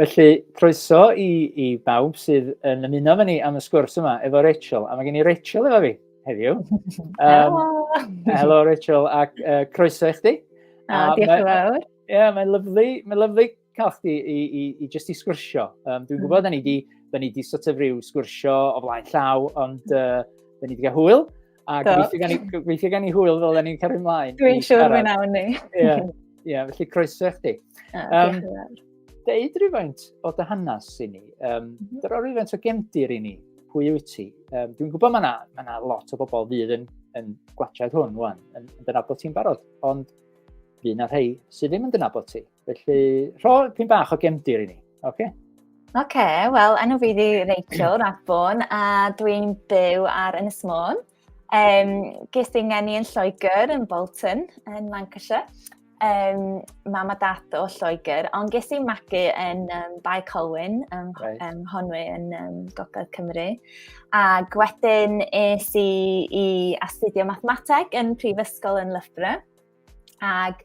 Felly, croeso i, i bawb sydd yn ymuno fe ni am y sgwrs yma efo Rachel. A mae gen i Rachel efo fi heddiw. Um, helo! Helo Rachel, ac uh, croeso i chdi. A, a diolch yn fawr. Ie, yeah, mae'n lyflu, mae'n lyflu cael chdi i, i, i just i sgwrsio. Um, dwi'n gwybod, mm. da ni di, da ni di sort of rhyw sgwrsio o flaen llaw, ond uh, da ni di cael hwyl. A gweithio gan i hwyl fel ni'n cario ymlaen. Dwi'n siŵr fe nawn ni. Ie, yeah, felly croeso chdi. Um, deud rhywfaint o dy hanes i ni. Um, mhm. Dyro rhywfaint o gemdir i ni. Pwy wyt ti? Um, Dwi'n gwybod mae yna ma, na, lot o bobl fydd yn, yn gwachod hwn, wan, yn, yn dynabod ti'n barod. Ond fydd yna rhai sydd ddim yn dynabod ti. Felly, rho pyn bach o gemdir i ni, oce? Okay? Oce, okay, wel, enw fi di Rachel Radbon a dwi'n byw ar Ynys Môn. Um, ges i'n ngeni yn Lloegr, yn Bolton, yn Lancashire. Um, mam a dat o Lloegr, ond ges i'n magu yn um, Bae Colwyn, um, right. um, Honwy yn um, Gogledd Cymru. A gwedyn es i i astudio mathemateg yn Prifysgol yn Loughborough. Ac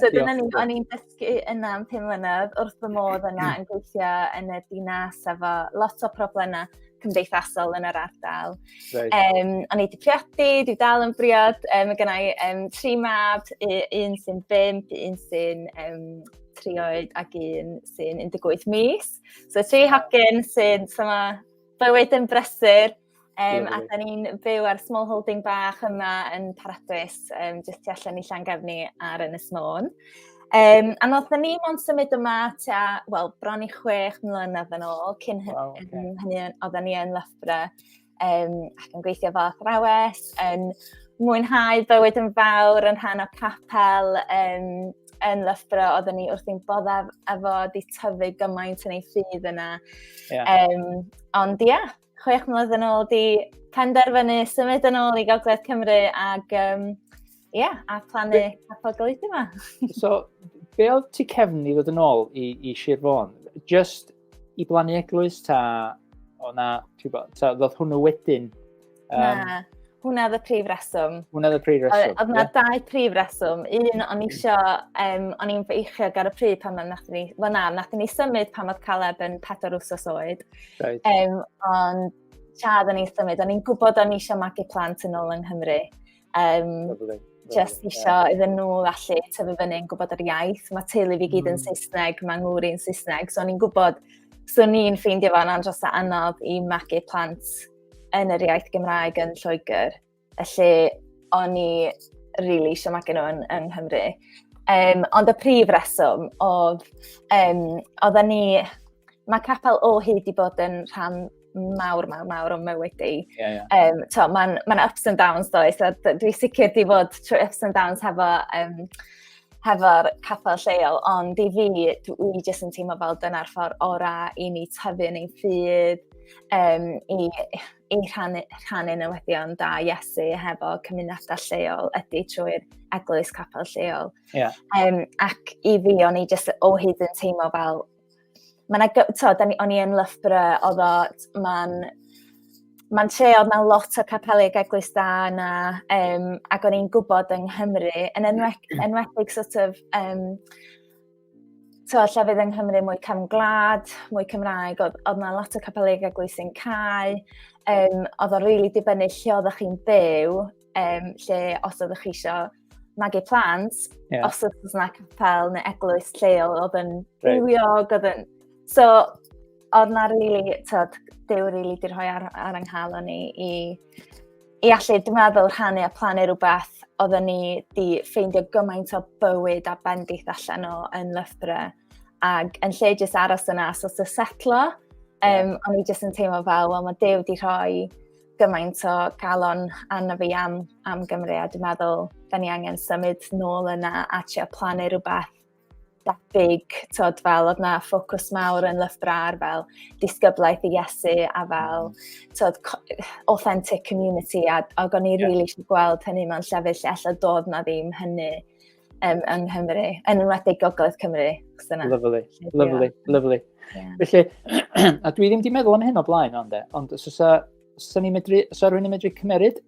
So dyna ni, o'n i'n dysgu yna am pum mlynedd wrth fy modd yna yn gweithio yn y dinas efo lot o problemau cymdeithasol yn yr ardal. Right. Um, o'n i wedi priodi, dwi dal yn briod, um, gyda i um, tri mab, un sy'n bimp, un sy'n um, tri oed ac un sy'n 18 mis. So tri hogyn sy'n syma bywyd yn brysur, Um, a da ni'n byw ar small holding bach yma yn Paradwys, um, jyst tu allan i Llangefni ar Ynys Môn. Um, a nod ni ond symud yma tua, wel, bron i chwech mlynedd yn ôl, cyn wow, okay. hynny oedden ni yn Loughborough um, ac yn gweithio fel athrawes, yn mwynhau bywyd yn fawr yn rhan o capel um, yn Loughborough, oedden ni wrth i'n boddaf efo di tyfu gymaint yn ei ffydd yna. Yeah. Um, ond ia, yeah, chwech mlynedd yn ôl di penderfynu symud yn ôl i Gogledd Cymru ac um, yeah, a plannu capel golygu yma. so, be oedd ti cefn i ddod yn ôl i, i Sir Fôn? Just i blannu eglwys ta o na, ti'n bod, ta ddodd hwnnw wedyn? Um, na. Hwna oedd y prif reswm. Hwna oedd y prif reswm. Oedd yna yeah. dau prif reswm. Un, o'n i isio, um, o'n i'n feichio ar y pryd pan mae'n nath ni, wel na, nath ni symud pan oedd Caleb yn pedwar wsos oed. Right. Um, ond siarad o'n i'n symud, o'n i'n gwybod o'n i eisiau magu plant yn ôl yng Nghymru. Um, Lovely. Just eisiau yeah. iddyn nhw allu tyfu fyny yn gwybod yr iaith. Mae teulu fi gyd yn mm. Saesneg, mae ngŵr i'n Saesneg, so o'n i'n gwybod, so o'n i'n ffeindio fo'n andros o anodd i magu plant yn yr iaith Gymraeg yn Lloegr, y lle o'n i rili really eisiau magu nhw yn, yng Nghymru. Um, ond y prif reswm oedd, um, oedd ni, mae capel o hyd i bod yn rhan mawr, mawr, mawr o'n mywyd i. Yeah, yeah. Um, to, mae'n ma ups and downs does, a dwi sicr di fod trwy ups and downs hefo um, hefo'r capel lleol, ond i fi, dwi jyst yn teimlo fel dyna'r ffordd orau i ni tyfu yn ein ffydd, um, i, i rhannu, rhannu newyddion da Iesu hefo cymunedau lleol ydy trwy'r eglwys capel lleol. Yeah. Um, ac i fi, o'n i jyst o hyd yn teimlo fel Mae yna, to, da ni, o'n i yn Loughborough, oedd o, mae'n mae'n tre oedd na lot o capelu ac eglwys da yna, um, ac o'n i'n gwybod yng Nghymru, yn enwedig, mm. enwedig sort of, um, to, llefydd yng Nghymru mwy cam gwlad, mwy Cymraeg, oedd, oedd na lot o capelu ac eglwys yn cael, um, oedd o'n rili really dibynnu lle oeddech chi'n byw, um, lle os oeddech chi eisiau magu plant, yeah. os oedd yna capel neu eglwys lleol oedd yn rhywiog, oedd yn... So, oedd na rili, really, tyd, dew rili really di rhoi ar, ar ynghal o'n i i, i allu, dwi'n meddwl, rhannu a plannu rhywbeth oedd ni di ffeindio gymaint o bywyd a bendith allan o yn Loughborough. Ac yn lle jyst aros yna, so sy'n setlo, um, yeah. o'n i jyst yn teimlo fel, wel, mae Dew di rhoi gymaint o galon arno fi am, am Gymru a dwi'n meddwl da ni angen symud nôl yna a trio plannu rhywbeth debyg, tod, fel oedd na ffocws mawr yn lyfrau ar fel disgyblaeth i Iesu a fel tod, authentic community a, a o'n i rili really eisiau gweld hynny mewn llefydd lle allai dod na ddim hynny um, yng Nghymru, yn enwedig Gogledd Cymru. Lyflu, lyflu, lyflu. Felly, a dwi ddim wedi meddwl am hyn o blaen ond e, ond os osa, os osa ni'n medru, os osa rhywun yn medru cymeryd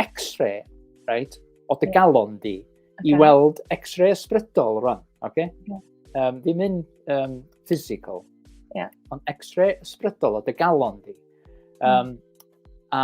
x-ray, right, o dy galon di, okay. i weld x-ray ysbrydol rwan, oce? Okay? Yeah. Um, ddim yn um, physical, yeah. ond x-ray ysbrydol o dy galon di. Um, mm. A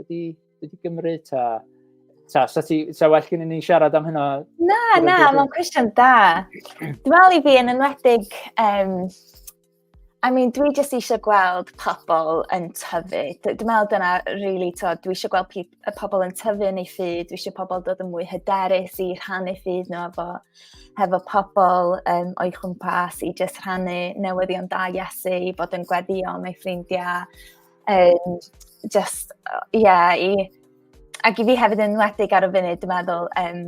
wedi, wedi gymryd ta? Ta, sa, ti, sa well gen i ni siarad am hynna? Na, na, mae'n cwestiwn da. Dwi'n meddwl i fi yn enwedig, um, I mean, dwi jyst eisiau gweld pobl yn tyfu. Dwi'n meddwl dyna, really, to, dwi eisiau gweld y pobl yn tyfu yn ei ffyd, dwi eisiau pobl dod yn mwy hyderus i rhannu ffyd nhw efo, hefo pobl um, o'i chwmpas i jyst rhannu newyddion da Iesu, i fod yn gweddio mewn ffrindiau, Um, just, ie, yeah, i... Ac i fi hefyd yn wedig ar y funud, dwi'n meddwl, um,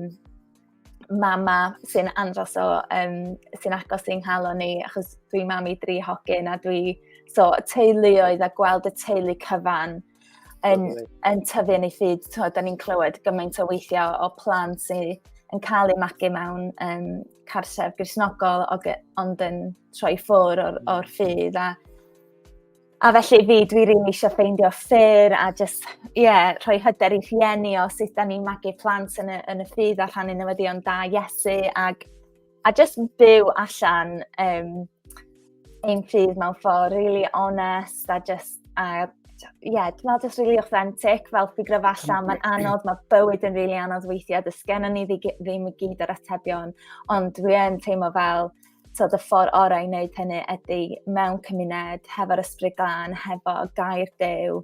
mama sy'n andros o, um, sy'n agos i'n halo ni, achos dwi mam i dri hogyn a dwi, so, teuluoedd a gweld y teulu cyfan yn, yn tyfu yn ei ffyd, so, da ni'n clywed gymaint o weithio o plan sy'n yn cael ei magu mewn um, cartref grisnogol, ond yn troi ffwr o'r, or ffydd a A felly fi dwi rili eisiau ffeindio ffyr a jyst ie yeah, rhoi hyder i rhieni o sut da ni'n magu plant yn y, yn y ffydd a rhannu newyddion da Iesu ag, a jyst byw allan um, ein ffydd mewn ffordd really honest a jyst a ie, yeah, dwi'n meddwl jyst really authentic fel ffigur allan, mae'n anodd, mae bywyd yn really anodd weithiau, dys gennym ni ddim i gyd yr atebion, ond dwi yn teimlo fel tod, y ffordd orau i wneud hynny ydy mewn cymuned, hefo'r ysbryd glân, hefo gair dew,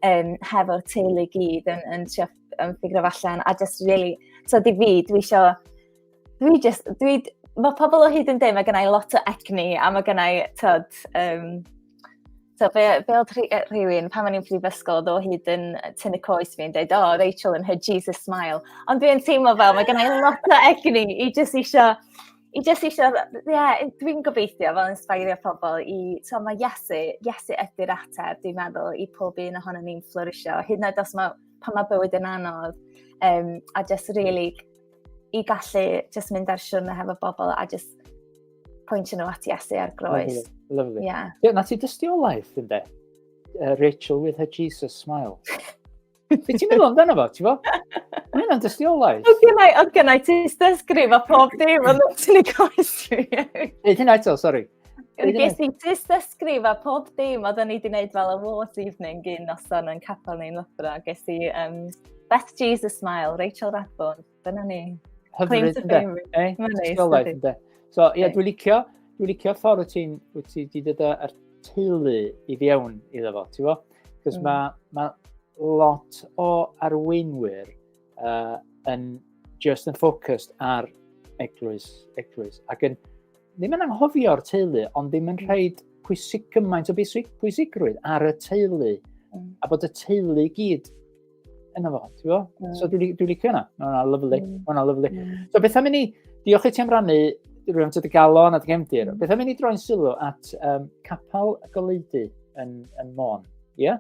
um, hefo'r teulu gyd yn, yn trio yn ffigur allan, a just really, so di fi, dwi isio, dwi just, dwi, mae pobl o hyd yn dweud, mae gennau lot o egni, a mae gennau, tod, um, So, fe, fe oedd rhywun, pan mae'n i'n prifysgol, oedd o hyd yn tynnu coes fi'n dweud, oh, Rachel and her Jesus smile. Ond dwi'n teimlo fel, mae gennau lot o egni i jyst eisiau I jyst eisiau, ie, yeah, dwi'n gobeithio fel inspirio pobl i, so mae Iesu, Iesu ydy'r ateb, dwi'n meddwl, i pob un ohono ni'n florisio, hyd yn oed os mae, pan mae bywyd yn anodd, um, a jyst really i gallu jyst mynd ar siwrna hefo bobl a jyst pwyntio nhw at Iesu ar groes. Lovely, lovely. Yeah. yeah na ti dystiolaeth, ynddo? Uh, Rachel with her Jesus smile. Be ti'n meddwl amdano fo, ti'n fawr? Mae hynna'n dystiolaeth. Oedd gennau, oedd gennau ti dysgrif a pob dim, ond ti'n ei gwaith fi. Nid hynna eto, sori. Ges i tis dysgrif a pob dim, oedd ni wedi gwneud fel awards evening gyn noson yn capel neu'n lyfra. Ges i um, Beth Jesus Smile, Rachel Radbourne, Dyna ni. Hyfryd, ynddo? Eh? Mae'n neis. Ysgolaeth, ynddo? So, ie, dwi'n licio, dwi'n licio ffordd wyt ti'n, wyt ti wedi dod â'r teulu i fiewn iddo fo, ti'n fo? Cos mm. mae ma lot o arweinwyr uh, yn just yn ffocust ar eglwys, eglwys, ac yn ddim yn anghofio'r teulu, ond ddim yn rhaid pwysig gymaint o bwysigrwydd ar y teulu, mm. a bod y teulu gyd Yna fo, ti'n fo? So dwi'n dwi licio yna. Mae hwnna lyflu. Mm. Mae hwnna lyflu. Mm. So beth am i ni, diolch i ti am rannu rwy'n tyd y galon a dy gefndir. Mm. Beth am i ni droi'n sylw at um, capel y goleiddu yn, yn Môn. Ie? Yeah?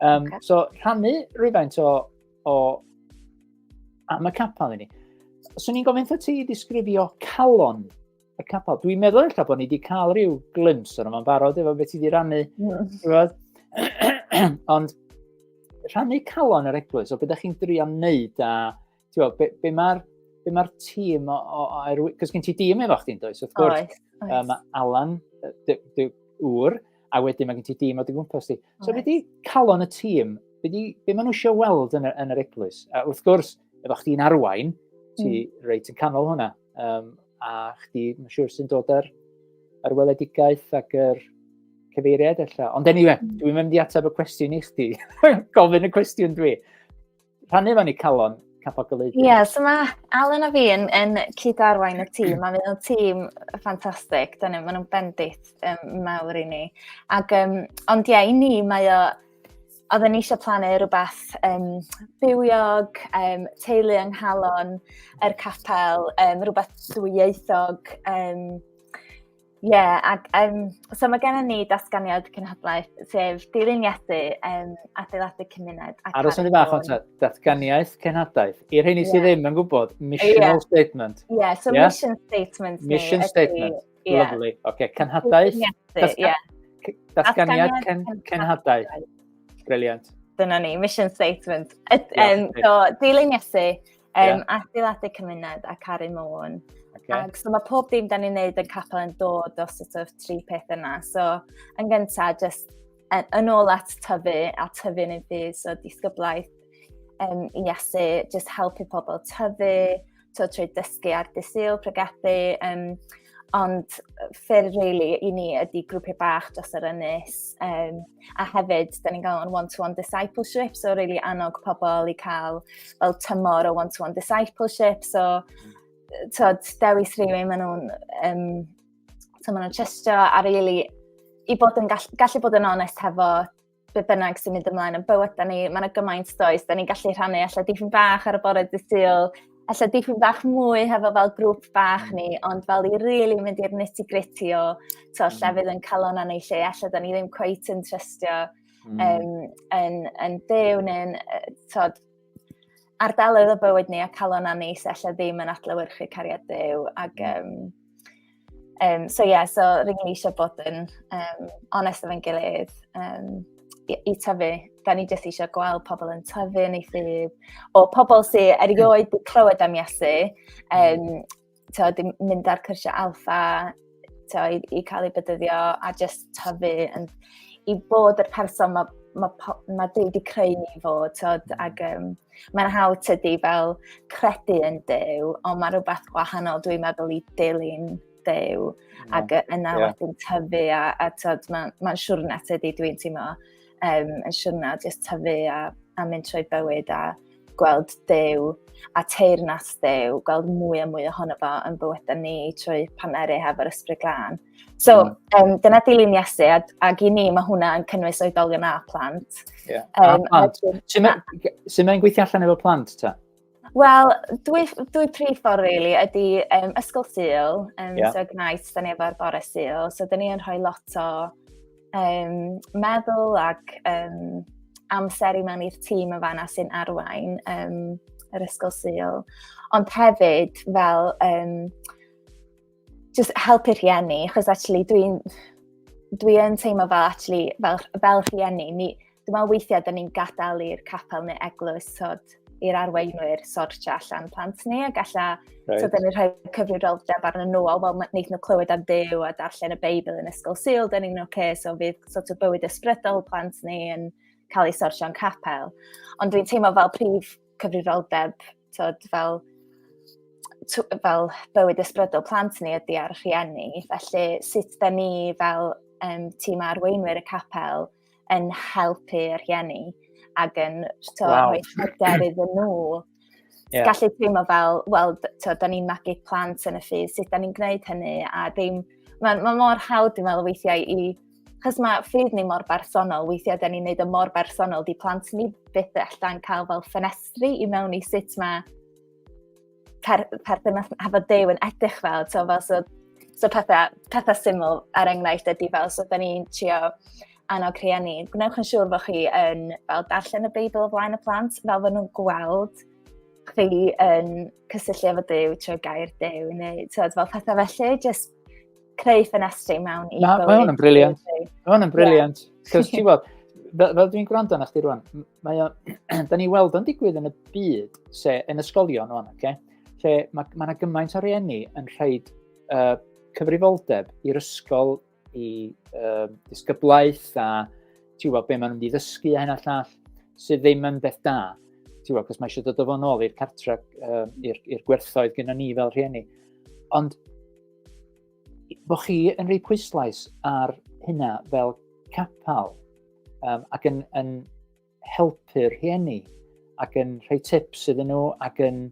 Um, okay. So rhannu rhywfaint o, o am y capel i ni. So ni'n gofyn ti ddisgrifio calon y capel. Dwi'n meddwl eich bod ni wedi cael rhyw glims o'n yma'n barod efo beth i wedi rannu. Mm. Ond rhannu calon yr eglwys, o beth ydych chi'n drio wneud a tiwa, be, be mae'r be mae'r tîm o, o, o cos gen ti dîm efo chdi'n does, wrth gwrs. Oes, oes. Um, Alan, dy, dy ŵr, a wedyn mae gen ti dîm o dy gwmpas ti. So, beth di calon y tîm? Be, di, be maen nhw eisiau weld yn, yn yr eglwys? A wrth gwrs, efo chdi'n arwain, ti mm. reit yn canol hwnna. Um, a chdi, mae'n siŵr sy'n dod ar, ar weledigaeth ac yr cyfeiriad efallai. Ond anyway, mm. dwi'n mynd i ateb y cwestiwn i chdi. Gofyn y cwestiwn dwi. Rhannu fan i calon, capogoleiddio. Ie, yeah, so mae Alan a fi yn, yn cyd-arwain y tîm, a mae'n tîm ffantastig, dyn nhw, maen nhw'n bendit um, mawr i ni. Ac, um, ond ie, yeah, i ni mae o, oedden ni eisiau plannu rhywbeth um, bywiog, um, teulu yng nghalon yr capel, um, rhywbeth dwyieithog. Um, yeah, ac, um, so mae gennym ni datganiad cynhadlaeth, sef dilyn Iesu, um, adeiladu cymuned. Ar os ni fach o'n datganiaeth cynhadaeth. I'r hyn i yeah. sydd ddim yn gwybod, missional yeah. statement. Yeah, so yeah? mission statement. Mission statement. Yeah. Lovely. Oce, okay. cenhadaeth. Yeah. Datganiad cen, cenhadaeth. Briliant. Dyna ni, mission statement. It, yeah, um, so, dilyn Iesu, um, yeah. adeiladu cymuned a caru môn. Okay. Ac so mae pob dim da ni'n neud yn capel yn dod o sort of tri peth yna. So, yn gyntaf, just yn ôl at tyfu a tyfu yn ei ddydd, so disgyblaeth um, i asu just helpu pobl tyfu, to trwy dysgu ar dysil, pregethu, um, ond ffyrdd really i ni ydy grwpiau bach dros yr ynys, um, a hefyd, da ni'n gael o'n one-to-one discipleship, so really annog pobl i cael fel tymor o one-to-one discipleship, so tod, dewis rhywun, maen nhw'n um, So maen nhw'n trystio a really, i bod yn gall, gallu bod yn onest hefo be bynnag sy'n mynd ymlaen yn bywyd da ni, mae'n gymaint does, da ni'n gallu rhannu allan dipyn bach ar y bore dy syl, allan dipyn bach mwy hefo fel grŵp bach ni, mm. ond fel i rili really mynd i'r nitty gritty o to, mm. llefydd yn calon anna i lle, allan da ni ddim cweith yn trystio mm. um, yn, yn byw neu'n, tod, ardaloedd o bywyd ni a calon a ni sy allai ddim yn adlewyrchu cariad Dyw. Ac, um, um, so ie, yeah, so rydyn ni eisiau bod yn um, onest efo'n gilydd. Um, i, i tyfu, da ni jyst eisiau gweld pobl yn tyfu yn ei ffydd, o pobl sy'n erioed wedi clywed am Iesu, um, to, dim mynd ar cyrsiau alfa to, i, i cael ei bydyddio a just tyfu yn, i bod yr person mae ma, ma Dyw wedi creu ni fo, tod, mm. ac um, mae'n hawdd tydi fel credu yn Dyw, ond mae rhywbeth gwahanol dwi'n meddwl i dilyn Dyw, mm. ac yna yeah. wedyn tyfu, a, a tod, mae'n ma siwrna tydi dwi'n teimlo, um, yn siwrna jyst tyfu a, a mynd trwy bywyd, a gweld Duw a teyrnas Duw, gweld mwy a mwy ohono fo yn bywydau ni trwy paneru hefo'r ysbryd glân. So, mm. um, dyna dilyn Iesu, a, ac i ni mae hwnna yn cynnwys oedolion a plant. Yeah. Um, a plant. Sut mae'n mae gweithio allan efo plant ta? Wel, dwy, dwy prif ffordd, really, ydy um, ysgol syl, um, yeah. so Ignite, da ni efo'r bore syl, so da ni yn rhoi lot o um, meddwl ac um, amser i mewn i'r tîm yn fanna sy'n arwain um, yr ysgol syl. Ond hefyd fel um, just helpu rhieni, achos actually dwi'n dwi yn teimlo fel actually fel, fel rhieni, ni, dwi'n meddwl weithiau da ni'n gadael i'r capel neu eglwys sod i'r arweinwyr sortio allan plant ni a galla right. so da ni'n rhoi cyfrifoldeb arnyn nhw o fel wneud nhw clywed am ddew a darllen y Beibl yn ysgol syl, da ni'n oce, okay, so fydd sort of bywyd ysbrydol plant ni yn cael ei sortio'n capel. Ond dwi'n teimlo fel prif cyfrifoldeb, tod, fel fel bywyd ysbrydol plant ni ydy ar rhieni, felly sut da ni fel um, tîm arweinwyr y capel yn helpu yr rhieni ac yn so, wow. rhoi hyder iddyn nhw. Yeah. Gallu teimlo fel, wel, da ni'n magu plant yn y ffydd, sut da ni'n gwneud hynny, a ddim, mae'n ma mor hawdd dwi'n meddwl weithiau i Chos mae ffydd ni mor bersonol, weithiau da ni'n neud o mor bersonol, di plant ni byth allan cael fel ffenestri i mewn i sut mae per, perthynas hefo dew yn edrych fel, so fel so, so pethau, pethau syml ar er enghraifft ydy fel, so da ni'n trio annog rhieni, gwnewch yn siŵr fod chi yn fel darllen y Beibl o flaen y plant, fel fod nhw'n gweld chi yn cysylltu efo Dyw trwy gair Dyw, neu tywed, fel pethau felly, jyst creu ffenestri mewn i bywyd. Mae hwn yn briliant. Mae hwn yn briliant. Cos ti'n gweld, fel, fel dwi'n gwrando na chdi rwan, mae o, da ni weld o'n digwydd yn y byd, se, yn ysgolion o'n, okay? lle mae yna ma gymaint o rieni yn rhaid uh, cyfrifoldeb i'r ysgol i uh, disgyblaeth a ti'n gwybod be maen nhw'n ddysgu a hyn a llall sydd ddim yn beth da. Ti'n gwybod, cos mae eisiau dod o fo'n ôl i'r cartra, uh, i'r gwerthoedd gyda ni fel rhieni. Ond bod chi yn rhoi pwyslais ar hynna fel capel um, ac yn, yn helpu'r rhieni ac yn rhoi tips iddyn nhw ac yn...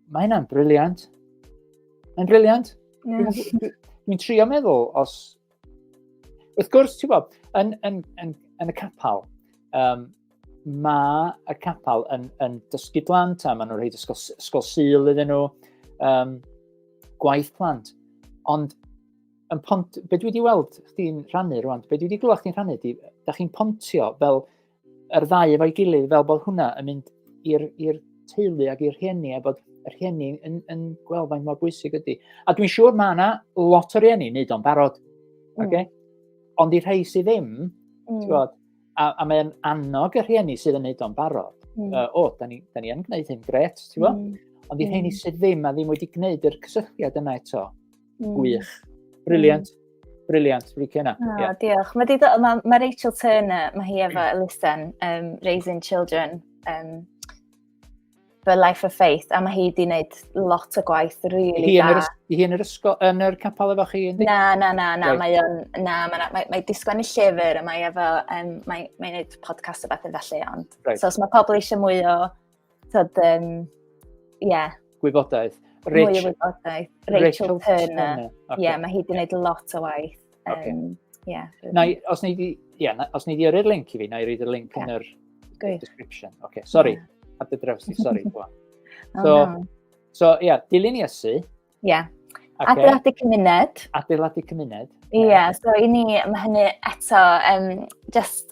Mae hynna'n briliant. Mae'n briliant. Dwi'n trio meddwl os Wrth gwrs, ti'n bod, yn, yn, yn, yn y capel, um, mae y capel yn, yn dysgu blant a maen nhw'n rhaid ysgol, ysgol syl iddyn nhw, um, gwaith plant. Ond yn pont, be dwi wedi weld chdi'n rhannu rwan, be dwi wedi glywed chdi'n rhannu, di, da chi'n pontio fel yr ddau efo'i gilydd fel bod hwnna yn mynd i'r teulu ac i'r rhieni a bod y rhieni yn, yn gweld faint mor bwysig ydy. A dwi'n siŵr mae yna lot o rhieni wneud o'n barod. Mm. Okay? Ond i rhai sydd ddim, mm. bod, a, a mae'n annog y rhieni sydd yn wneud o'n barod. Mm. Uh, o, da ni, da ni yn gwneud hyn, gret, ti'n bod? Mm. Ond i rheini mm. sydd ddim a ddim wedi gwneud yr cysylltiad yna eto, Mm. Gwych. Briliant. Mm. Briliant, licio yna. Oh, yeah. Diolch. Mae, dido, ma, ma Rachel Turner, mae hi efo elusen, um, Raising Children, um, for Life of Faith, a mae hi wedi gwneud lot o gwaith really hi da. Hi yn yr ysgol, yn yr capel efo chi? Na, na, na, na, right. mae o'n, na, mae, mae, mae disgwyl i llyfr, a mae efo, um, mae, mae gwneud podcast o beth yn felly, ond. Right. So, os mae pobl eisiau mwy o tyd, um, yeah. Gwybodaeth. Rich, Mwy o wybodaeth. Rachel, Rachel Turner. Turner. Okay. Yeah, mae hi wedi gwneud lot o waith. Um, okay. yeah, na, os ni di, yeah, na, os ni di yrru'r link i fi, na i roed y link yeah. yn yr Good. description. Okay, sorry, yeah. ar dy draws ni, sorry. so, no. so, yeah, dilyn Iesu, Ie. Yeah. Okay. Adeiladu cymuned. Adeiladu cymuned. Ie, yeah, so i ni, mae hynny eto, um, just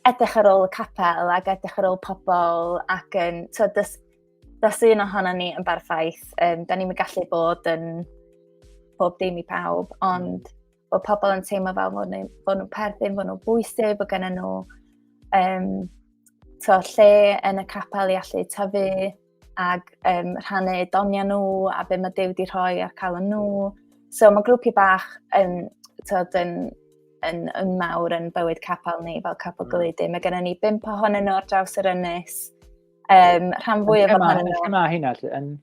edrych ar ôl y capel ac edrych ar ôl pobl ac yn, so dys, dys un ohono ni yn barffaith, um, da ni'n gallu bod yn bob dim i pawb, ond mm. bod pobl yn teimlo fel fod nhw'n perthyn, fod nhw'n bwysig, bod gen nhw um, to, lle yn y capel i allu tyfu, ac um, rhannu doniau nhw a be mae Dew wedi rhoi ar cael yn nhw. So mae grwpiau bach yn, tyd, yn, yn, yn mawr yn bywyd capel ni fel capel mm. gylidu. Mae gennym ni bimp ohonyn nhw ar draws yr ynys. Um, rhan fwy o fod ohonyn nhw. Lle mae hynna? Yn,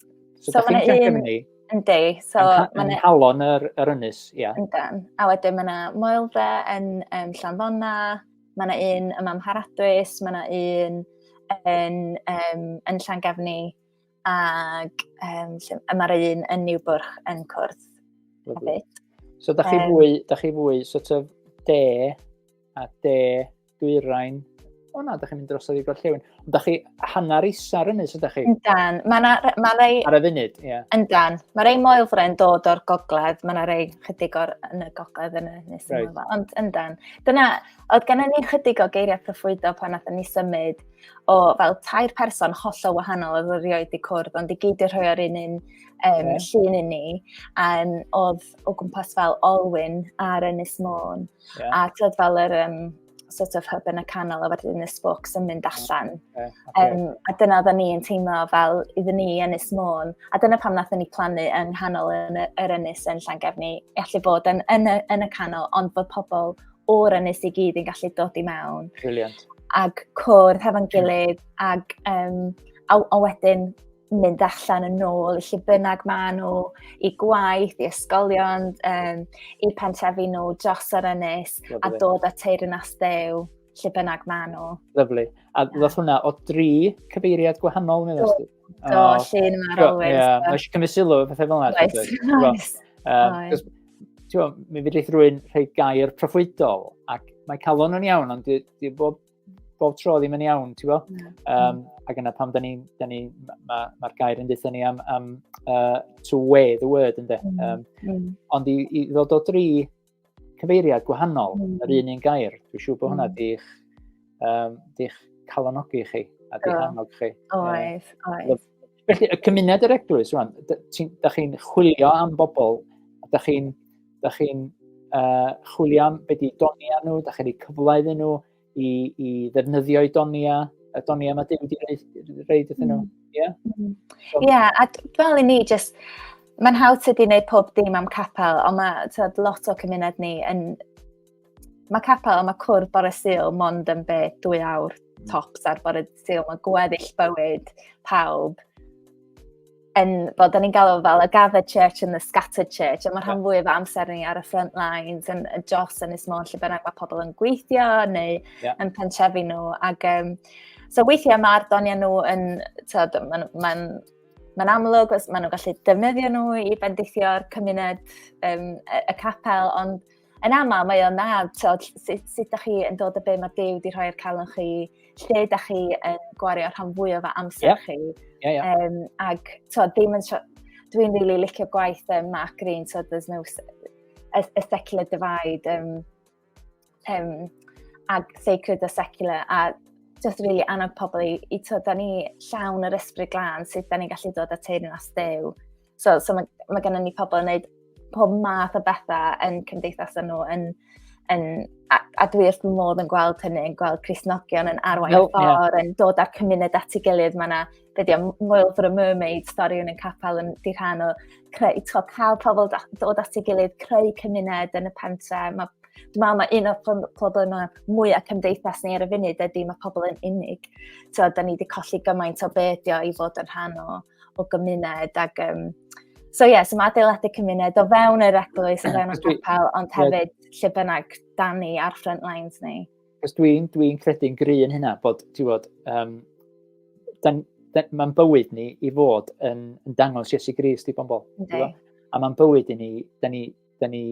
so, so mae yna un... Yndi, so... Yn, yn halon yr, yr ynys, ia. Yeah. Yndan. A wedyn mae yna moelfa yn um, Llanddonna, Mae yna un yma am Haradwys, mae yna un yn, um, yn Llangefni, ac um, mae'r un yn Niwbwrch yn cwrdd hefyd. So, da chi, um, fwy, da chi fwy sort of de a de dwyrain. O na, da chi'n mynd dros y ddigol llewn. Da chi hanner isa ar ynys ydych chi? Yndan. Mae yna ma rei... Ar y funud, ie. Yeah. Yndan. Mae rei moelfren dod o'r gogledd. Mae yna rei chydig o'r yn y gogledd yn y nes right. yma. Ond yndan. Dyna, oedd gen ni chydig o geiriau proffwydo pan nath ni symud o fel tair person hollol wahanol oedd yr ioed i cwrdd, ond i gyd i'r rhoi ar un un um, yeah. llun i ni, um, oedd o gwmpas fel Olwyn ar Ynys Môn. Yeah. A tyd fel yr um, sort of hub yn y canol a wedyn y spokes yn mynd allan. Okay, okay. Um, a dyna oedden ni yn teimlo fel iddyn ni yn Ynys Môn. A dyna pam nath ni plannu yng nghanol yn yr ynys yn Llangefni. Allu bod yn, yn, y, yn y canol, ond bod pobl o'r ynys i gyd yn gallu dod i mewn. Brilliant. Ac cwrdd hefo'n gilydd, ac um, a, a wedyn mynd allan yn ôl i lle bynnag maen nhw, i gwaith, i ysgolion, um, i pentrefi nhw dros yr ynys Lovely. a dod at teir yn asdew lle bynnag maen nhw. Lyflu. A ddoth hwnna o dri cyfeiriad gwahanol, neu ddysgu? Do, oh, llun yma ar always. Ie, mae eisiau cymryd sylw, pethau fel yna. Oes, oes. Um, Ti'n mi fyddi rhywun rhoi gair proffwydol, ac mae calon yn iawn, ond di, di bob bob tro ddim yn iawn, ti'n bo? Mm. Um, ac yna pam da ni, da ni mae'r ma, gair yn dweud ni am, am uh, to wear the word, ynddo. Mm. Um, mm. Ond i, i ddod o dri cyfeiriad gwahanol, mm. yr un un gair, dwi'n siŵr bod hwnna mm. di'ch um, di calonogi chi a di yeah. chi. Oes, um, oes. Felly, y cymuned yr eglwys, rwan, da chi'n chwilio am bobl, da chi'n da chi uh, chwilio am beth i donia nhw, da chi'n ei cyfle iddyn nhw i, i ddefnyddio i donia, y donia mae Dyw wedi reid iddyn nhw. Mm. Ie, yeah? mm. so. yeah, a fel i ni, just, mae'n hawdd tydi wneud pob dim am capel, ond mae tyd, lot o cymuned ni yn Mae capel, mae cwrdd bore syl mond yn be dwy awr tops ar bore syl. Mae gweddill bywyd pawb yn, bod da ni'n galw fel y gathered church and the scattered church, a mae rhan fwy o amser ni ar y front lines, yn y dros yn ysmôn lle bynnag mae pobl yn gweithio neu yeah. yn pentrefi nhw. Ac, um, so weithiau mae'r doniau nhw yn, tyd, mae'n ma ma amlwg, maen nhw'n gallu defnyddio nhw i bendithio'r cymuned, um, y, y capel, ond yn aml mae o'n nad, tod, sut, sut da chi yn dod y be mae Dew wedi rhoi ar calon chi, lle da chi yn gwario rhan fwy o fa amser yeah. chi. Yeah, yeah. Um, ag, tod, ddim yn... Dwi'n rili really licio gwaith um, Mark Green, tod, there's no... A, a secular divide, um, um, ag sacred a secular, a just really annog pobl i, i to, da ni llawn yr ysbryd glan, sut da ni gallu dod at ein as dew. So, so mae, mae gennym ni pobl yn gwneud pob math o bethau yn cymdeithas nhw, yn, yn, a, a dwi wrth fy modd yn gweld hynny, yn gweld Crisnogion yn arwain oh, ffordd, yeah. yn dod â'r cymuned at ei gilydd. Mae yna, be di, Moel for a Mermaid, stori yn y capel yn di rhan o creu, to, cael pobl dod at ei gilydd, creu cymuned yn y pentre. Mae Dwi'n meddwl mae un o'r pobl yma mwyaf cymdeithas ni ar y funud ydy mae pobl yn unig. So, da ni wedi colli gymaint o be ydi o i fod yn rhan o o gymuned ac um, So ie, yeah, so mae adeiladu cymuned o fewn yr eglwys, o fewn y capel, ond hefyd lle bynnag dan ni ar front lines ni. Cos dwi'n dwi, dwi credu'n gry yn hynna bod, ti'n bod, um, mae'n bywyd ni i fod yn, yn dangos Iesu Grist i bobl. A mae'n bywyd i ni, da ni, da ni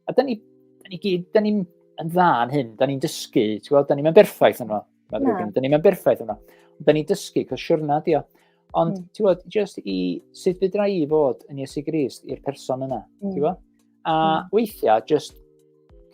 A da ni, da ni gyd, da ni'n yn dda yn hyn, da ni'n dysgu, ti'n gweld, da ni'n berffaith yno. Da ni'n berffaith yno. Da ni'n dysgu, cos siwrna di o. Ond, mm. ti'n gweld, just i sut fydra i fod yn Iesu Grist i'r person yna, mm. ti'n gweld? A mm. weithiau, just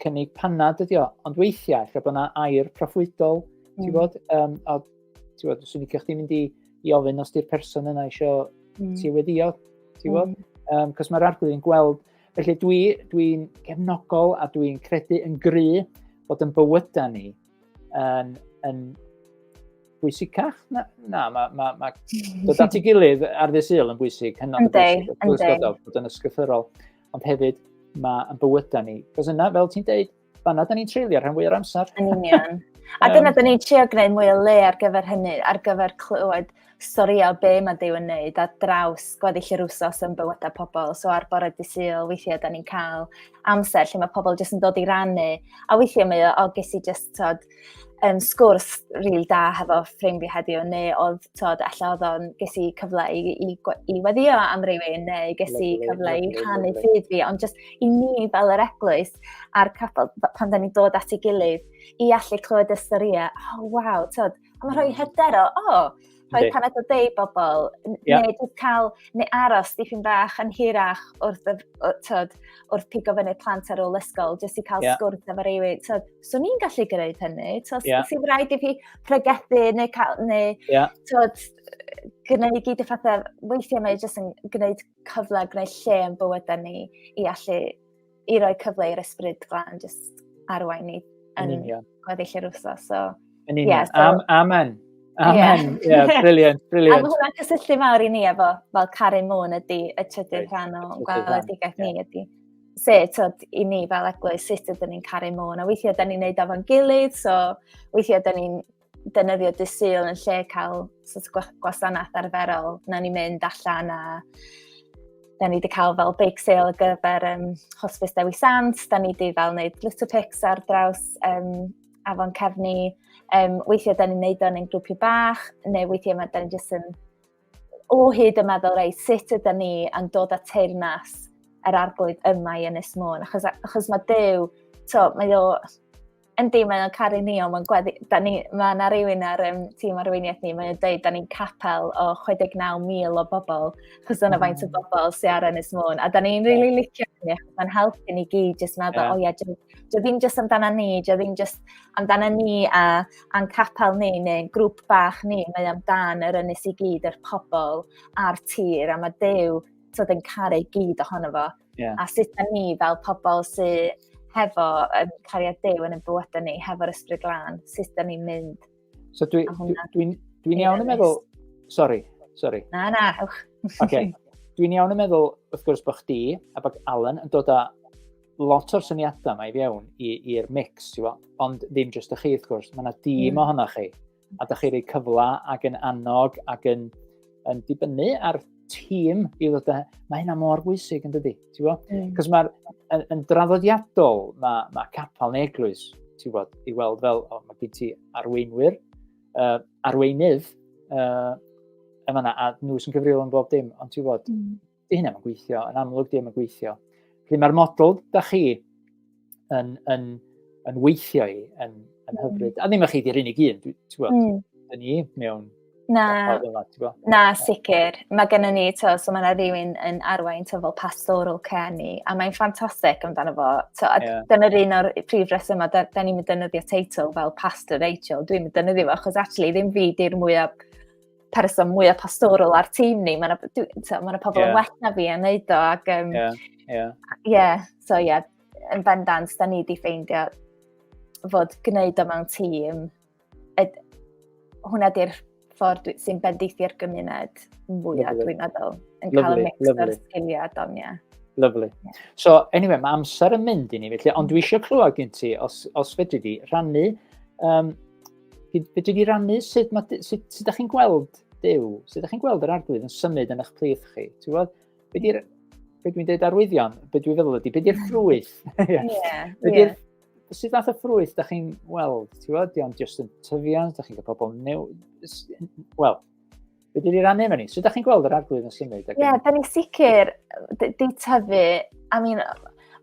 cynnig panad ydi o, ond weithiau, lle bod yna air proffwydol, mm. ti'n gweld, um, a ti'n gweld, swn i'n cael chdi mynd i, i ofyn os di'r person yna eisiau mm. ti wedi o, ti'n gweld? Mm. Um, cos mae'r arglwydd yn gweld Felly dwi, dwi'n gefnogol a dwi'n credu yn gry bod yn bywydau ni yn, yn bwysicach. Na, na mae ma, ma, dod at ei gilydd ar ddi syl yn bwysig, hynod o bwysig, wrth gwrs bod yn ysgrythyrol, ond hefyd mae yn bywydau ni. Cos yna, fel ti'n deud, fanna da ni'n treulio rhan fwy o'r amser. Yn union. A dyna da ni'n trio gwneud mwy o le ar gyfer hynny, ar gyfer clywed storïau o be mae Dyw yn neud ar draws gweddill yr wsos yn bywydau pobl. So ar bore disil, weithiau da ni'n cael amser lle mae pobl jyst yn dod i rannu. A weithiau mae o, o ges i jyst tod, um, sgwrs rili really da hefo ffrind fi heddiw, neu oedd, tod, allan oedd o'n ges i cyfle i, i, i weddio am rywun, neu ges i cyfle i rhannu ffyd fi, ond just i ni fel yr eglwys a'r capel, pan da ni'n dod at ei gilydd, i allu clywed y storiau, oh, waw, tod, a mae rhoi hyder o, oh, rhoi paned o deu bobl, yeah. neu jyst cael, neu aros dipyn bach yn hirach wrth, y, tyd, wrth pigo fyny plant ar ôl ysgol, jyst i cael yeah. sgwrs efo rywun. So, so ni'n gallu gwneud hynny. So, yeah. sy'n rhaid i fi pregethu neu, cael, neu yeah. tyd, gwneud i gyd y pethau, weithiau mae jyst yn gwneud cyfle, gwneud lle yn bywydau ni i allu i roi cyfle i'r ysbryd glan jyst arwain ni yn gweddill yr wrthos. So, yn union. Yeah, so... Am, amen. Amen. Ie, yeah. yeah, briliant, briliant. A hwnna'n cysylltu mawr i ni efo, fel caru môn ydy y trydydd right. rhan o gweledigaeth yeah. ni ydy. Se, tyd, i ni fel eglwys, sut ydyn ni'n caru môn. A weithiau ydyn ni'n neud ofo'n gilydd, so weithiau ydyn ni'n defnyddio dy syl yn lle cael sort of gwasanaeth arferol. Na ni mynd allan a da ni wedi cael fel big sale ar gyfer um, Hospice Dewi Sant, da ni wedi fel wneud little pics ar draws um, afon cefni. Um, weithiau da ni'n neud o'n ein grwpiau bach, neu weithiau mae da ni jyst yn o hyd yn meddwl, rei, sut yda ni yn dod at teirnas yr arglwydd yma i Ynys Môn, achos, achos mae Dyw, to, mae o, Yndi, mae o'n caru ni, ond mae'n gweddi... Da ni... Mae yna rywun ar um, tîm arweiniaeth ni, mae'n dweud, da ni'n capel o 69,000 o bobl, chos dyna faint o mm. bobl sy'n ar Ynys Môn. A da ni'n rili really licio ni, achos mae'n helpu ni gyd jyst meddwl, yeah. o ie, yeah, dwi ddim jyst amdana ni, dwi ddim jyst amdana ni a a'n capel ni neu grŵp bach ni, mae amdan yr ynys i gyd, yr pobl a'r tir, a mae Dew tyd yn caru gyd ohono fo. Yeah. A sut da ni fel pobl sydd hefo um, cariad dew yn y bywydau ni, hefo'r ysbryd glân, sut da ni'n mynd. So dwi'n dwi, dwi, dwi, dwi iawn yn meddwl... Sorry, sorry. Na, na, ewch. okay. Dwi'n iawn yn meddwl, wrth gwrs, bod chdi a bod Alan yn dod â lot o'r syniadau mae i fewn i'r mix, ti fo? ond ddim jyst y chi, wrth gwrs. Mae yna dîm mm. ohonoch chi. a da chi rei cyfle ac yn annog ac yn, yn dibynnu ar tîm i ddod â... Mae hynna mor bwysig yn dydy, ti'n bod? Mm. Cos mae'r yn, yn draddodiadol, mae, mae capel neu eglwys, ti'n bod, i weld fel, o, mae gen ti arweinwyr, uh, arweinydd, uh, yma na, a nhw sy'n cyfrifol yn bob dim, ond ti'n bod, mm. di hynna mae'n gweithio, yn amlwg di hynna gweithio. Felly mae'r model da chi yn, yn, yn weithio i yn, yn mm. hyfryd. A ddim ych chi di'r unig un, ti'n gwybod, mm. yn ni mewn Na, na, sicr. Mae gen ni, to, so mae yna rhywun yn arwain to, fel pastoral care ni, a mae'n ffantastig amdano fo. To, a yeah. dyna'r un o'r prif resymau, da, da ni'n mynd dynyddio teitl fel Pastor Rachel, dwi'n mynd dynyddio fo, achos actually ddim fi di'r mwyaf person mwyaf pastoral ar tîm ni. Mae'n ma pobl yeah. yn well na fi yn neud o. Ac, um, yeah, yeah. yeah, so ie, yeah, yn bendant, da ni wedi ffeindio fod gwneud o mewn tîm, ed, hwnna di'r ffordd sy'n bendithi'r gymuned mwyaf, dwi'n meddwl, yn cael y mix o'r sgiliau don, ie. Lovely. Yeah. So, anyway, mae amser yn mynd i ni, felly, ond dwi eisiau clywed gen ti, os, os fedri di, rhannu um, Fedri di rannu sut, ma, sut, sut da chi'n gweld Dyw, sut da chi'n gweld yr arglwydd yn symud yn eich plith chi? Ti'n gweld? Be di'r, be dwi'n dweud arwyddion, be dwi'n feddwl ydy, be di'r ffrwyth? yeah, yeah. Sut fath o ffrwyth da chi'n weld? Ti'n gweld? Diolch just yn tyfiant, da chi'n cael pobl new... Wel, Be dwi wedi rannu efo ni? So, da chi'n gweld yr arglwydd yn symud? Ie, yeah, da ni'n sicr di tyfu, I mean,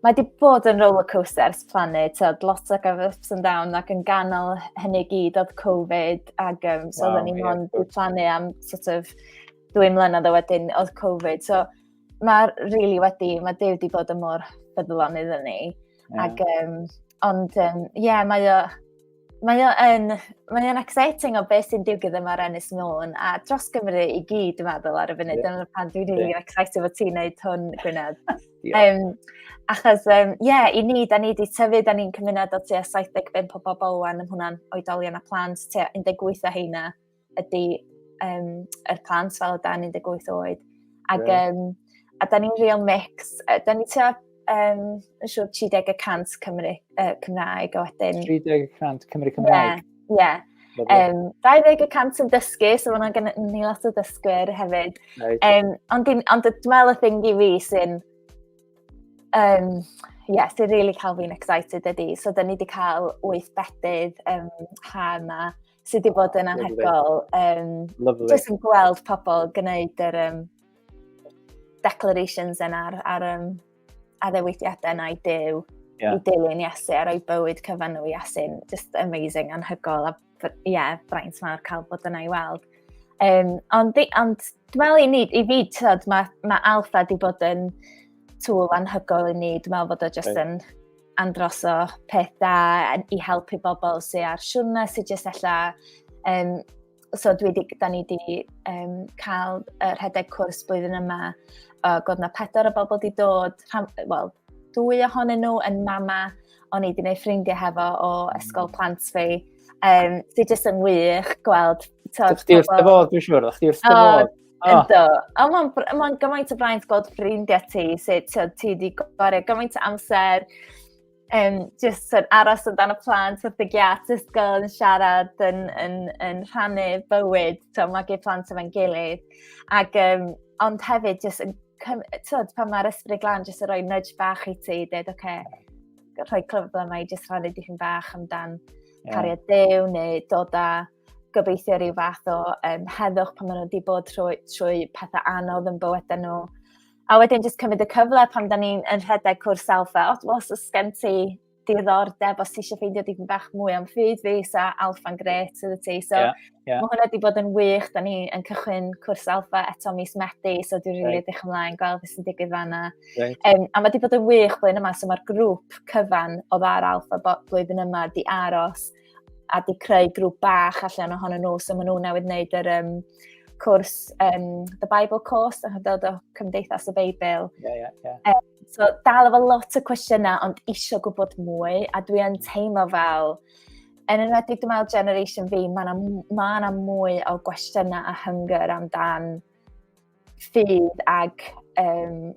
mae wedi bod yn roller coaster ers plannu, tyd, lot o gaf ups and down, ac yn ganol hynny gyd oedd Covid, ac um, so wow, oedden ni'n ond yeah, plannu am sort of dwy mlynedd o wedyn oedd Covid. So mae really wedi, mae Dave wedi bod yn mor ffyddlon iddyn ni. Yeah. Ac, um, ond, ie, um, yeah, mae o, Mae o'n mae o'n exciting o beth sy'n digwydd yma ar Ennis Môn a dros Gymru i gyd dwi'n meddwl ar y funud. Yeah. Dyna pan dwi'n rili yeah. excited fod ti'n neud hwn, Gwynedd. yeah. um, achos, ie, um, yeah, i ni, da ni wedi tyfu, da ni'n cymuned o tua 75 o bobl wan, yn hwnna'n oedolion a plant, tua 18 o heina ydy um, yr plant fel o dan 18 oed. Ac, yeah. um, a da ni'n real mix. Da ni tua, um, yn siŵr, 30 y cant Cymru, uh, Cymraeg a wedyn... 30 y cant Cymru Cymraeg? Ie, yeah, yeah. Um, 20 y cant yn dysgu, so mae'n gen ni lot o dysgwyr hefyd. Right. Um, ond dwi'n ond dwi'n meddwl y thing i fi sy'n... Um, yeah, sy'n really cael fi'n excited ydy. So, da ni wedi cael wyth bedydd um, ha yma sydd wedi bod yn anhegol. Um, Lovely. Just yn gweld pobl gwneud yr um, declarations yna ar, ar um, addewidiadau yna i dew, yeah. i dilyn Iesu, a roi bywyd cyfan nhw i Iesu. Just amazing, anhygol, a ie, yeah, braint mawr cael bod yna i weld. Um, ond, ond dwi'n meddwl i ni, i fi, tyd, mae ma Alfa wedi bod yn tŵl anhygol i ni. Dwi'n meddwl bod o jyst yn androso peth da i helpu bobl sy'n ar siwrna sy'n jyst ella... Um, so dwi di, da ni wedi um, cael uh, rhedeg cwrs blwyddyn yma o uh, god na pedwar o bobl wedi dod, wel, dwy ohonyn nhw yn mama o'n i wedi gwneud ffrindiau hefo o ysgol plant fi. Um, sy'n jyst yn wych gweld... Dych chi wrth y fodd, dwi'n siŵr, dych chi wrth y fodd. Oh. Ynddo. A mae'n ma gymaint o braint gweld ffrindiau ti, sut ti wedi gwario gymaint o amser, um, just yn aros amdano plant wrth y giat, just gael yn siarad, yn, yn, yn rhannu bywyd, to, mae gyd plant efo'n gilydd. Ac, um, ond hefyd, just yn, tyd, pan mae'r ysbryd glan, just yn rhoi nudge bach i ti, dweud, oce, okay, rhoi clyfod yma i just rhannu dipyn bach amdan yeah. cariad dew, neu dod â gobeithio rhyw fath o um, heddwch pan maen nhw wedi bod trwy, trwy pethau anodd yn bywydau nhw. A wedyn jyst cymryd y cyfle pan da ni'n yn rhedeg cwrs alfa, os, os oes gen ti diddordeb os ti eisiau ffeindio dipyn bach mwy am ffyd fi, so alfa'n gret sydd y ti. So yeah, yeah. mae hwnna wedi bod yn wych, da ni'n cychwyn cwrs alfa eto mis Medi, so dwi'n rili right. eich ymlaen gweld beth sy'n digwydd fanna. Right. Um, a mae wedi bod yn wych blwyddyn yma, so mae'r grŵp cyfan o ddar alfa blwyddyn yma di aros a di creu grŵp bach allan ohonyn nhw, so maen nhw newydd wneud yr um, cwrs um, The Bible Course, a dod o Cymdeithas y Beibl. Yeah, yeah, yeah. Um, so dal efo lot o cwestiynau, ond eisiau gwybod mwy, a dwi yn teimlo fel, yn enwedig dwi'n meddwl generation fi, mae yna ma mwy o gwestiynau a hynger amdan ffydd ag um,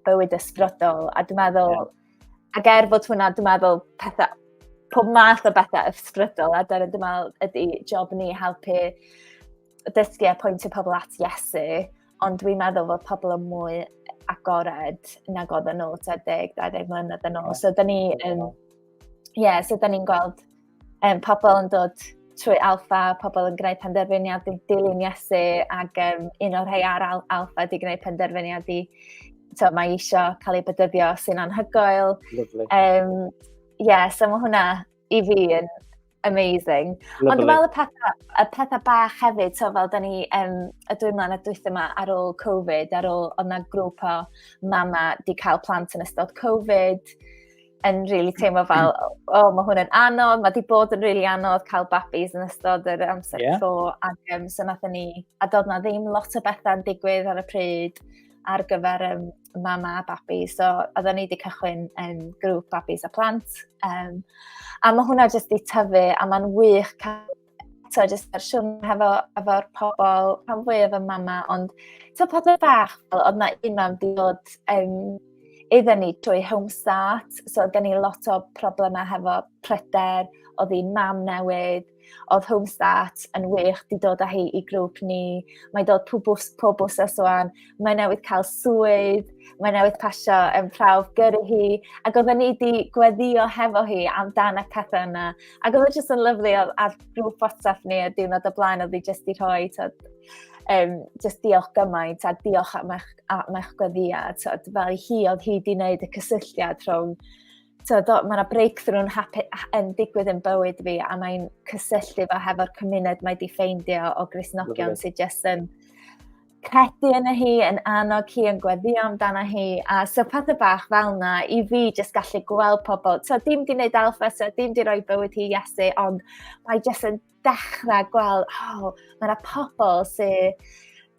bywyd ysbrydol. A dwi'n meddwl, yeah. ac er fod hwnna, dwi'n meddwl pethau, pob math o bethau ysbrydol, a dyna dwi'n meddwl ydy job ni helpu dysgu a pwyntio pobl at Iesu, ond dwi'n meddwl fod pobl yn mwy agored nag oedd yn ôl 20-20 mlynedd yn ôl. So, da ni yn... Ie, yeah, so da ni'n gweld um, pobl yn dod trwy alfa, pobl yn gwneud penderfyniad i dilyn Iesu, ac um, un o'r rhai ar al alfa di gwneud penderfyniad i, to, mae eisiau cael ei bedyddio sy'n anhygoel. Lovely. Um, yeah, so mae hwnna i fi yn amazing. Lovely. Ond dwi'n meddwl y pethau, y pethau bach hefyd, so fel da ni um, y dwi'n mlaen a dwyth yma ar ôl Covid, ar ôl, ond na grŵp o mama di cael plant yn ystod Covid, yn really teimlo fel, o, oh, mae hwn yn anodd, mae wedi bod yn really anodd cael babis yn ystod yr amser yeah. tro, ac um, so nath ni, a dod na ddim lot o bethau yn digwydd ar y pryd ar gyfer um, mama a babi, so oedden ni wedi cychwyn um, grŵp babis a plant, um, a mae hwnna jyst wedi tyfu, a mae'n wych cael so jyst yr siwn hefo efo'r pobl rhan fwyaf y mama, ond so pa dweud bach, fel, oedd na un mam di dod um, iddyn ni trwy Homestart, so oedd ni lot o problemau hefo pryder, oedd hi'n mam newydd, oedd Homestart yn wych di dod â hi i grŵp ni, mae dod pob, pob wsos o'n, mae newydd cael swydd, mae newydd pasio yn prawf gyrru hi, ac oedd ni di gweddio hefo hi amdan y pethau yna, Ac oedd e jyst yn lyflu, oedd ar grŵp WhatsApp ni y diwrnod o blaen, oedd hi jyst i rhoi, tyd, um, jyst diolch gymaint a diolch am eich, am eich gweddia, tyd, fel i hi oedd hi wedi gwneud y cysylltiad rhwng so, do, mae yna breakthrough yn digwydd yn bywyd fi a mae'n cysylltu fo hefo'r cymuned mae di ffeindio o grisnogion sydd jyst yn credu yna hi, yn annog hi, yn gweddio amdana hi, a so pethau bach fel yna i fi jyst gallu gweld pobl. So dim di wneud alfa, so dim di roi bywyd hi Iesu, ond mae jyst yn dechrau gweld, oh, mae yna pobl sy'n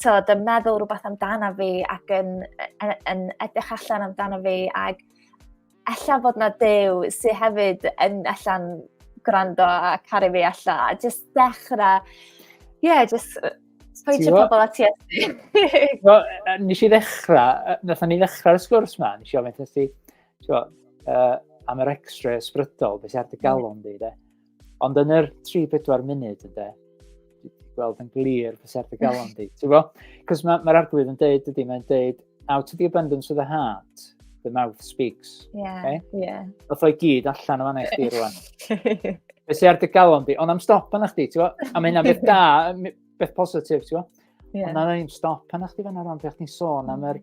so, yn meddwl rhywbeth amdana fi ac yn, yn, yn edrych allan amdana fi ac ella bod na dew sydd hefyd yn allan gwrando a caru fi alla. A just dechrau, ie, yeah, just pwyntio pobl at Iesu. well, nes i ddechrau, nes ni ddechrau'r sgwrs ma, nes i ofyn ti, uh, am yr extra ysbrydol, beth sy'n ar dy mm. galon di, de. Ond yn yr 3-4 munud, ynddo, gweld yn glir fy serth y galon di. Ti'n bo? Cos mae'r ma arglwydd yn deud ydy, mae'n deud, out of the abundance of the heart, the mouth speaks. Yeah, okay? yeah. Oedd o'i gyd allan o fanna i chdi rwan. Fe si ar dy galon di, ond am stop yna chdi, ti'n bo? A mae hynna beth da, beth positif, ti'n bo? Yeah. Ond na ddim stop yna chdi fanna rwan, fe chdi'n sôn am yr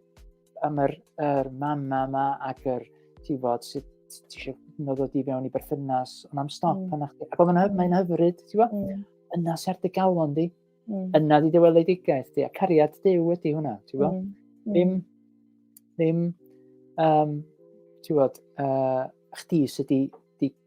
am yr, yr mama yma ac yr, ti'n bod, sut ti eisiau nod o di fewn i berthynas, ond am stop mm. yna chdi. Ac oedd yna, mae'n hyfryd, ti'n bod, mm. yna sy'r dy galon di, mm. yna di dyweledigaeth di, a cariad dew ydi hwnna, ti'n bod. Mm. Mm. Ddim, ddim, um, ti'n bod, uh, chdi sydd di, di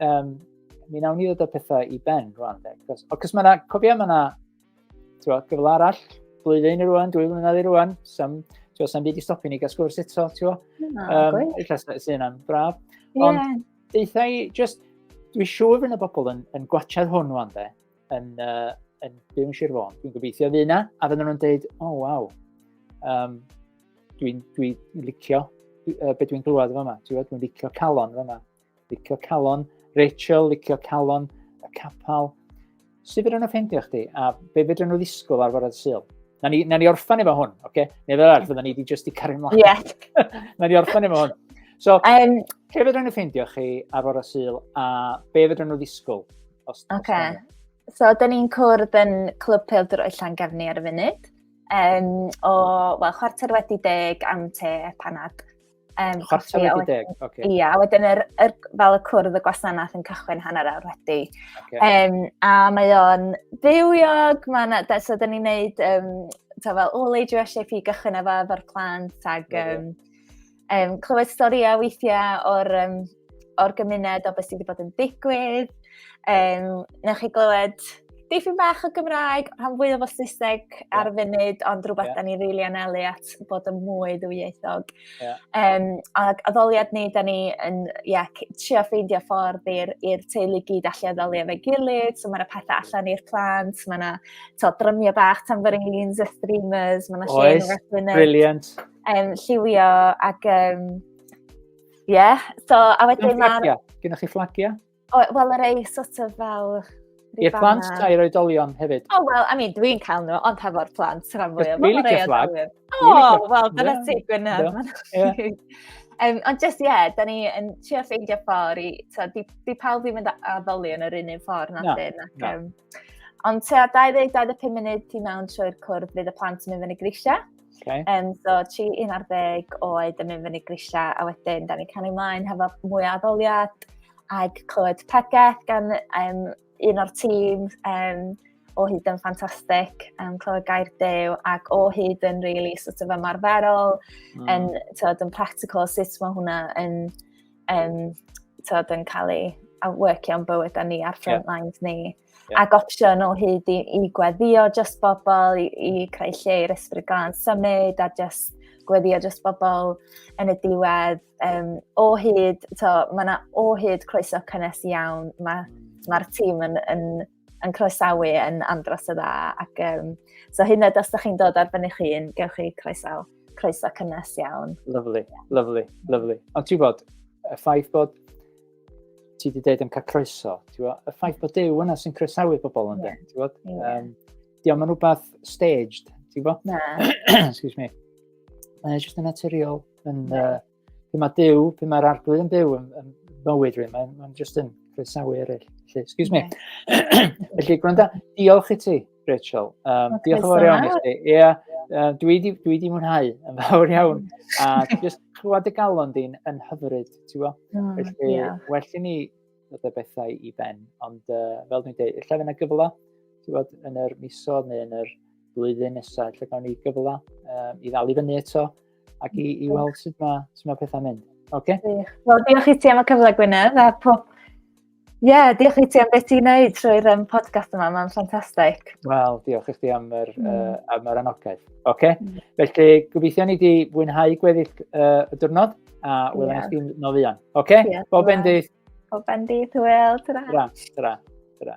Um, mi nawn ni ddod o pethau i ben rwan. Cos, cos mae yna, cofio mae yna gyfle arall, blwyddyn i rwan, dwy flynedd i rwan, sam, twa, sam byd i stopio ni gael sgwrs eto, ti'n um, Illa sy'n yna'n braf. Yeah. Ond, deitha i, just, dwi siŵr fy'n y bobl yn, yn gwachad hwn rwan, de, yn, uh, yn byw yn Sir Fôn. Dwi'n gobeithio fydd yna, a fydden nhw'n dweud, o, oh, waw, um, dwi'n dwi licio uh, beth dwi'n glywed yma, dwi'n licio calon yma. Licio calon, Rachel, licio calon, y capal. Sut fydden nhw'n ffeindio chdi? A be fydden nhw ddisgwyl ar fyrraedd syl? Na ni, na ni orffan efo hwn, oce? Okay? Neu fel arall, fydden ni wedi just i cario ymlaen. Yes. na ni orffan efo hwn. So, um, lle fydden nhw ffeindio chi ar fyrraedd syl a be fydden nhw ddisgwyl? Os, okay. Os So, dyn ni'n cwrdd yn Clwb Peildro Llan Gefni ar y funud. Um, o, wel, chwarter wedi deg am te panad. Um, Chwarter wedi deg, oce. Okay. Ia, wedyn yr, yr, fel y cwrdd y gwasanaeth yn cychwyn hanner awr wedi. Okay. Um, a mae o'n bywiog, mae'n... So, dyn ni'n neud, um, ta fel, o, le dwi eisiau fi gychwyn efo efo'r plant, ag um, um, clywed storïau weithiau o'r um, o'r gymuned o beth sydd wedi bod yn digwydd. Um, newch chi glywed dipyn bach o Gymraeg, rhan fwy o Saesneg yeah. ar y funud, ond rhywbeth yeah. da ni rili really anelu at bod yn mwy ddwyieithog. Yeah. Um, a addoliad ni, da ni yn yeah, trio ffeindio ffordd i'r teulu gyd allu addoli efo'i gilydd, so mae'n y pethau allan i'r plant, mae yna drymio bach, tambourines, a streamers, mae yna lle yn y Brilliant. Um, lliwio ac um, Ie, yeah, so a wedyn mae'r... Gynnwch chi fflagiau? O, wel, yr ei sort of fel... I'r plant ta i'r oedolion hefyd? O, oh, wel, I mean, dwi'n cael nhw, ond hefo'r plant, rhan fwy o fel yr fflag. O, wel, dyna ti, Gwynaf. Um, ond just, ie, yeah, da ni yn trio ffeindio ffordd i, so, di, di pawb ddim yn addoli yn yr un un ffordd na no, dyn. Ac, no. um, ond tua 20-25 munud ti mewn trwy'r cwrdd bydd y plant yn mynd fyny grisiau. Okay. Um, so, tri un ar ddeg oed yn mynd fyny grisiau, a wedyn, da ni'n canu ymlaen hefo mwy o addoliad, ac clywed pregeth gan um, un o'r tîm um, o hyd yn ffantastig, um, clywed gair dew, ac o hyd yn rili really, sort of ymarferol, mm. yn, tywed, yn practical, sut mae hwnna yn, um, tywed, yn cael ei a workio am bywyd a ni ar front yeah. lines ni. yeah. ac opsiwn o hyd i, i gweddio just bobl, i, i creu lle i'r ysbryd glan symud a just gweddio just bobl yn y diwedd. Um, o hyd, to, mae yna o hyd croeso cynnes iawn. Mae'r mm. ma tîm yn, yn, yn croesawu yn andros o dda. Ac, um, so hyn ydych os ydych chi'n dod ar fyny chi, yn gewch chi croeso, croeso cynnes iawn. Lovely, lovely, lovely. Ond ti'n bod, y ffaith bod ti wedi dweud yn cael croeso, ti bod, y ffaith bod Dew yna sy'n croesawu pobl yn dweud, ti bod? Um, Diolch yn rhywbeth staged, ti bod? Na. Excuse me. Mae'n just yn naturiol. Yn, uh, pe mae Dew, pe mae'r arglwydd yn byw yn, yn bywyd rhywun, mae'n ma just yn croesawu eraill. Felly, excuse me. Felly, gwranda, diolch i ti Rachel. Um, okay, diolch yn fawr iawn i chdi. Ie, yeah, uh, dwi wedi dwi di mwynhau yn fawr iawn. A just clywed y galon di'n yn hyfryd, ti'n bo? Mm, Felly, yeah. well i ni ddod y bethau i ben. Ond uh, fel dwi'n dweud, lle fyna gyfle, ti'n bod, yn yr misodd neu yn yr blwyddyn nesaf, lle gawn ni gyfle um, i ddal i fyny eto ac i, i weld sut mae, sut mae pethau'n mynd. Okay? Wel, diolch i ti am y cyfle, Gwynedd, a pob Ie, yeah, diolch i ti am beth i'n neud trwy'r um, podcast yma, mae'n ffantastig. Wel, diolch i chdi am yr, mm. uh, am yr anogaeth. Oce, okay. mm. felly gobeithio ni wedi fwynhau gweddill uh, y diwrnod a wylwn yeah. chdi'n nol fuan. Oce, okay? yeah, bob endydd. Bob endydd, hwyl, tyra. Tyra, tyra, tyra.